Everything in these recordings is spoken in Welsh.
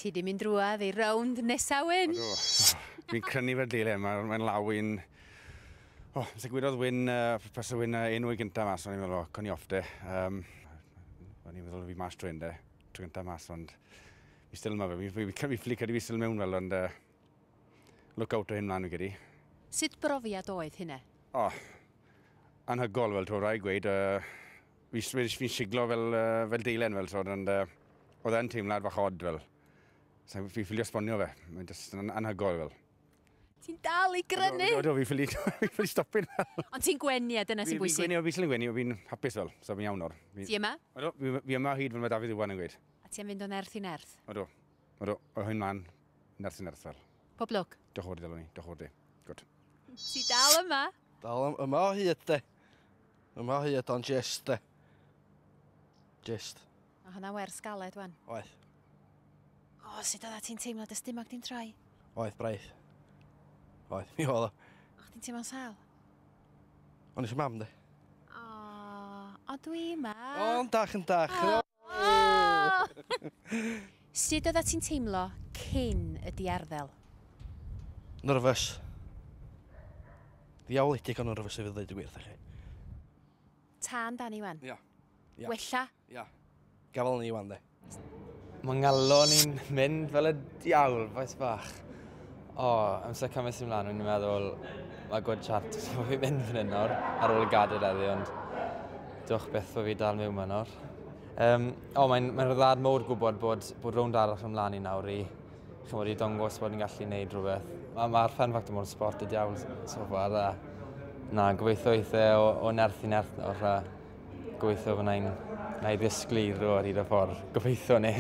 Ti di mynd drwad i rownd nesa, Wyn? Fi'n crynu fe dile, mae'n mae law i'n... O, oh, sy'n gwyrodd Wyn, uh, pas y Wyn uh, enw i gyntaf mas, o'n i'n meddwl, o, oh, con i off de. Um, o'n i'n meddwl fi mas trwy'n de, trwy gyntaf mas, ond fi still yma fe. Fi, fi, fi, fi, fi, fi still mewn fel, ond uh, look out o hyn mlaen fi gyda. Sut brofiad oedd hynna? O, oh, anhygol, fel twr rai gweud, uh, Fi jyst wedi fi'n siglo fel, uh, fel deilen fel tod, ond uh, oedd e'n teimlad fach od fel. So, fi ffili esbonio fe, mae'n jyst yn anhygoel fel. Ti'n dal i grynu? Do, do, fi ffili, fi ffili stopin fel. Ond ti'n gwenu a dyna sy'n bwysig? Fi'n gwenu, fi'n gwenu, fi'n hapus fel, so fi'n iawn o'r. Ti yma? Odo, fi, fi yma hyd fel mae Dafydd Iwan yn gweud. A ti'n fynd o nerth i nerth? Odo, odo, o hyn man, nerth i nerth fel. Pob lwc. Diolch o'r ddelwn ni, diolch o'r di. Good. Ti dal yma? Dal am yma o hyd de. Yma o hyd o'n gist de. Gist. Mae hwnna'n wers galed wan. Oeth. O, oh, sut oedda ti'n teimlo dy stumog di'n troi? Oeth, braidd. Oeth, mi oedd o. O'ch ti'n teimlo'n sal? O'n eisiau mam de. O, oh, o dwi yma. O, yn dach, yn dach. Oh. Sut oeddat ti'n teimlo cyn y diarddel? Nyrfys. Ddiawledig o nyrfys i fi ddweud y gwir 'tha chi. Tân dan Iwan? Ia. Ia. Wella? Ia. Gafal ni Iwan de. Mae ngalon i'n mynd fel y diawl, faes bach. O, amser cymaint sy'n mlan o'n i'n meddwl ma' good chance bo' fi'n mynd fan 'yn nawr ar ôl y gadair heddi ond dw'ch byth bo' fi dal miwn 'ma nawr. Yym o mae'n mae'n ryddhad mowr gwbod bod bod rownd arall yn mlan i nawr i ch'mod i dongos bod ni'n gallu neud rwbeth. Ma' ma'r Fun Factor mor sport y diawl s- so far a na gobeithio eith e o o nerth i nerth nawr a gobeithio fyddai'n 'nai ddysglu i ddod o hyd y ffordd. Gobeitho 'ny.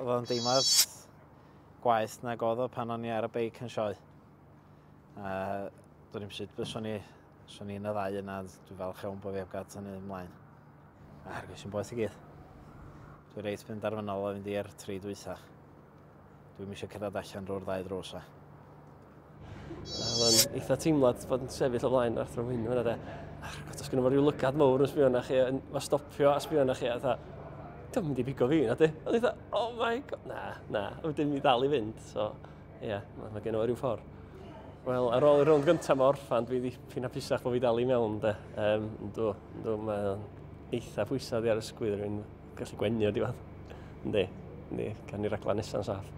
Wel dim ots. gwaeth nag oedd o pan o'n i ar y beic yn sioe. A dwi'n i'n sut bys o'n i, o'n i'n y ddau yna, dwi'n falch iawn bod fi heb gael tynnu ymlaen. A hargwys i'n boeth i gyd. Dwi'n reit fynd ar fy nol o fynd i'r tri dwytha. Dwi'n eisiau cyrraedd allan drwy'r ddau ddrws a. Oedd o'n eitha teimlad bod yn sefyll o flaen yr athro hwyn hwnna de. Ac os gyda fo rhyw lygad mawr yn sbio na chi, yn fo stopio a sbio na chi, a dda, dwi'n mynd i bigo fi, na di? Oedd eitha, oh my god, na, na, oedd dim i ddal i fynd, so, ie, yeah, mae ma gen o rhyw ffordd. Wel, ar ôl y rownd gyntaf mae orffan, dwi wedi ffyn apusach bod fi dal i mewn, de. Um, dw, dw, mae eitha pwysau di ar ysgwydd rhywun. Gallu gwenio di fan. Yndi, yndi, gan i raglen nesa'n saff.